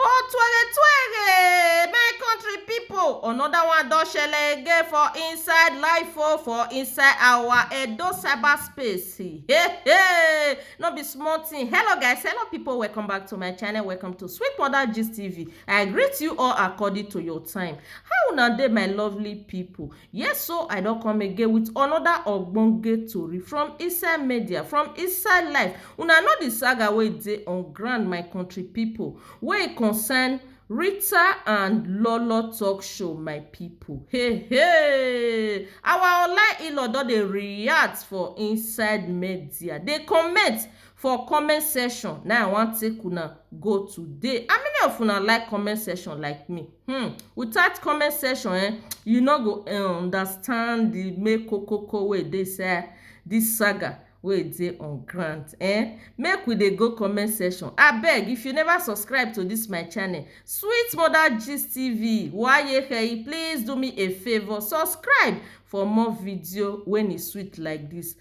Oh twere twere my country people another one don shele again for inside life oh for inside our Edo cyberspace hey hey no be small thing hello guys hello people welcome back to my channel welcome to Sweet Mother Gist TV I greet you all according to your time how una dey my lovely people Yes so I don come again with another ogbonge tori from inside media, from inside life. Una know the saga wey dey on ground my country people wey e concern Rita and Lolo talk show my people. Hey hey! Our online in-law don dey react for inside media, dey comment for comment section na i wan take una go today how many of una like comment section like me hmm without comment section eh you no go eh, understand the make kokoko wey dey inside this saga wey dey on ground eh make we dey go comment section abeg if you never subscribe to this my channel sweet mother gist tv wayehei please do me a favour subscribe for more video when e sweet like this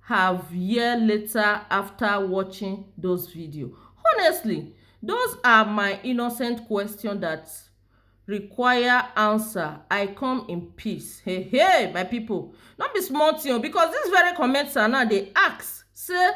have year later after watching those video honestly those are my innocent question that require answer i come in peace hey hey my people no be small thing because this very commenter now they ask say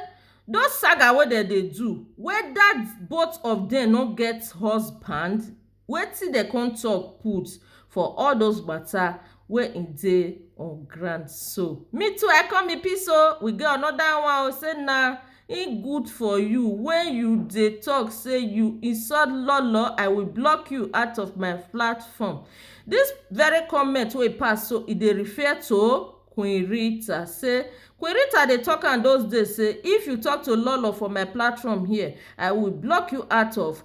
those saga wey dem dey do whether both of them no get husband Wetin dem come talk put for all those matter wey e dey on ground so. Me too I come in peace o, we get another one o say na e good for you when you dey talk say you insult lolo I will block you out of my platform. This very comment wey e pass so e dey refer to Queen Rita say Queen Rita dey talk am those days say if you talk to lolo for my platform here I will block you out of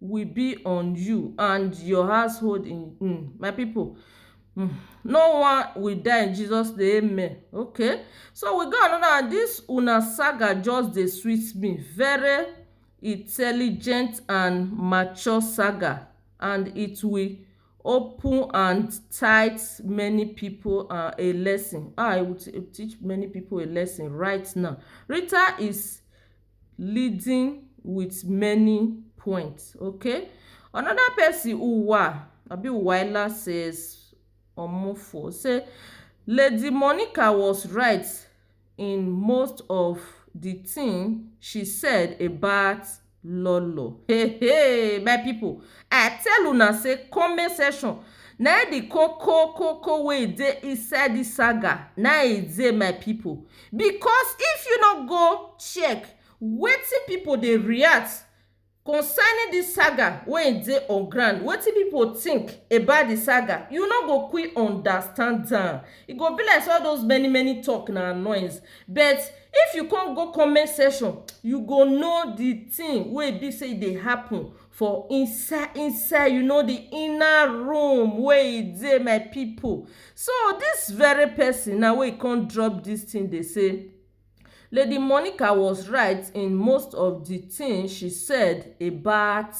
will be on you and your household in um my people um no one will die in Jesus name amen okay so we got another one this una saga just dey sweet me very intelligent and mature saga and it will open and tight many people uh, a lesson ah it will teach many people a lesson right now Rita is leading with many points okay another person uwa abi uwaila says omofo say lady monica was right in most of the thing she said about lolo hey hey my people i tell una say comment section na the koko koko wey e dey inside this saga na e dey my people Because if you no go check wetin pipo dey react concerning dis saga wey e dey on ground, wetin pipo think about di saga, you no go quick understand am. E go be like sey all those many many talk na noise. But if you come go comment section, you go know di thing wey e be sey e dey happen. for inside inside you know the inner room wey e dey my people so this very person now wey e come drop this thing dey say lady Monica was right in most of the thing she said about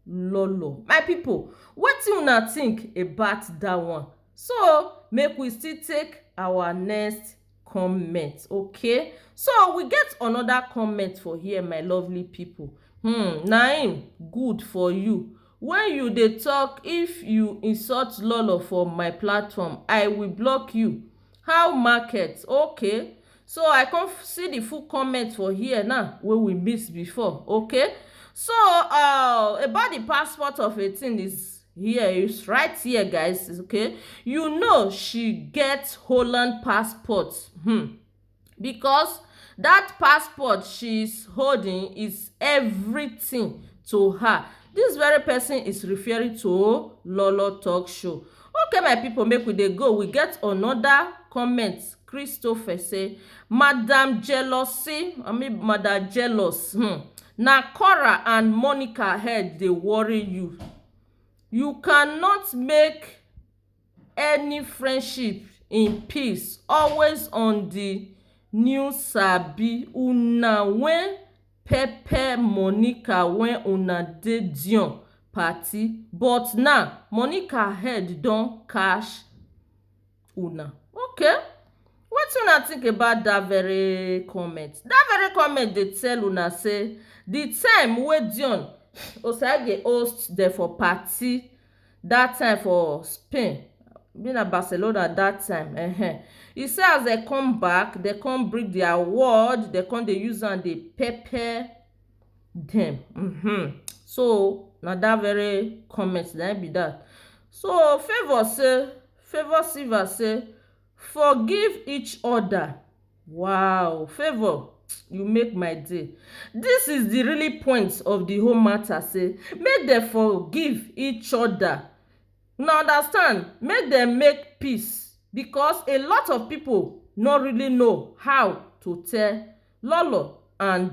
Lolo my people wetin una think about that one so make we still take our next comment okay so we get another comment for here my lovely people hmm naim good for you when you dey talk if you insult lolo for my platform i will block you how market okay so i come see the full comment for here now wey we miss before okay so uh about the passport of a thing is here is right here guys okay you know she get holland passport hmm. because that passport she's holding is everything to her this very person is referring to lolo talk show okay my people make we dey go we get another comment christopher say madam jealousy i mean madam jealous um na cora and monica head dey worry you you cannot make any friendship in peace always on the new sabi una wen pepper monica wen una dey dior party but now monica head don catch una okay wetin una think about that very comment that very comment dey tell una say the time wey dion osagie host dem for party that time for spain abi na barcelona that time um e say as dem come back dem come bring their word dem come dey use am dey pepper dem um so na that very comment na im be that so favour say Favour Silva say forgive each other wow Favour you make my day this is the really point of the whole matter say make dem forgive each other una understand make dem make peace because a lot of people no really know how to tell lolo and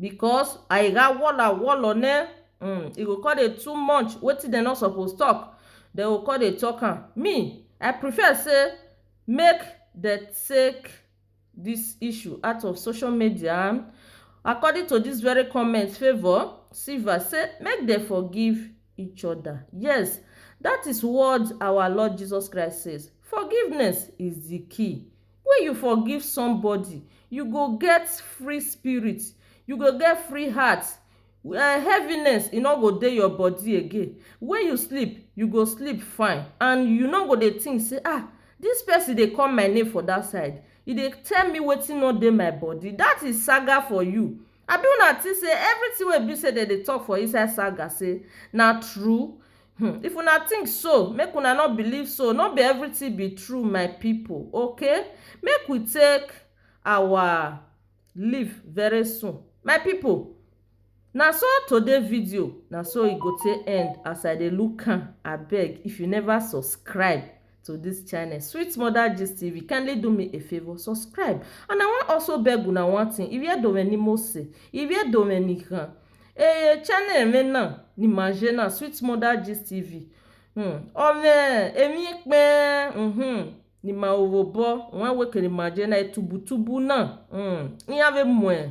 Because I ga walla walla ne um e go come dey too much wetin dem no suppose talk dem go come dey talk am me I prefer say make dem take this issue out of social media and according to this very comment Favour Silva say make dem forgive each other yes that is what our Lord Jesus Christ says forgiveness is the key Wen you forgive somebody, you go get free spirit, you go get free heart, heaviness e no go dey your body again, wen you sleep you go sleep fine and you no go dey think sey ah dis person dey call my name for dat side e dey tell me wetin no dey my body dat is saga for you abi una think sey everything wey be sey dem dey talk for inside saga sey na true. Hmm, if una think so, make una no believe so. No be everything be true, my people. Okay, make we take our leave very soon, my people. Na so today video na so e go take end as I dey look am. Abeg, if you never subscribe, to this channel sweet mother gist tv kindly do me a favor subscribe and i wan also beg una one thing if you don't any more say if you don't any can eh channel me na ni maje na sweet mother gist tv hmm ome emi pe mhm ni ma owo bo wan wekele maje na etubu tubu na hmm iyan ve mwe